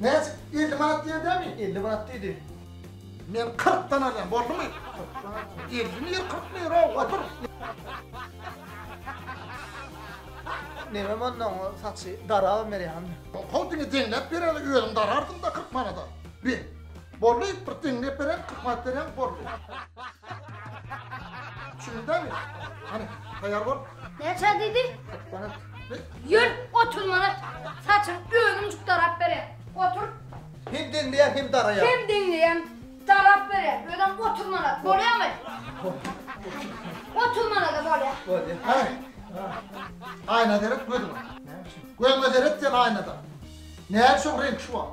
Näçe? Elli manat diýedemi? Elli manat diýdi. Men kyrkdan alýan, boldumy? Elli mi, kyrk mi, ýöre, otur. Neme mondan o saçy daraba berýän? Hol diňe deňläp bereli, özüm darardym-da kyrk manada. Bi, boldy, bir deňläp beren, kyrk manat berýän, boldy. Düşündüňmi? Hany, taýýar bol. Näçe diýdi? Kyrk manat. Ýör, otur mana. Saçyň özüň juk darap berer. Otur. Hem deňleýär, hem daraýar. Hem deňleýär, darap berer. Özem otur mana. Bolýamy? Otur mana-da bolýa. Bolýa. Ha. Aýna seret gözüňe. Göňe seret sen aýnada. Näme şoň reňk şu wagt?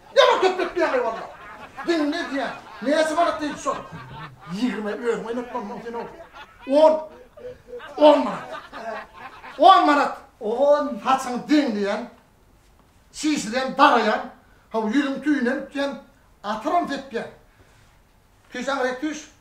Ýaman söhbet diýýäňeý walla. Diňle diýýän. Näçe manat diýdi şol? Ýigrime özüň oýnatmaň muň sen ow. On. On manat. On manat. On. Saçyňy deňleýän. Çişirýän, daraýan. Haw, ýüzüň tüýüne ütýän. Atyram sepýän. Tüýs aňryk tüýs.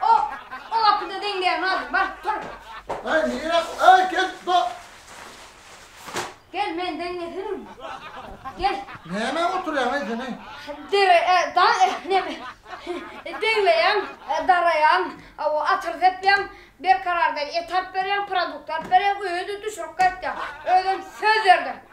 O, o gapyda deňleýär Nadir, bar, tur. Aý, nirä, aý, gel, ba. Gel, men deňletirin. Gel. Nämä oturýaň, aý, sen, aý? Dere, e, da, e, neme, e, deňleýän, e, daraýan, a, o, atyr sepýän, Berkarardan et alyp berýän, produkt alyp berýän, öýe-de düşürip gaýtýan. Özem söz berdim.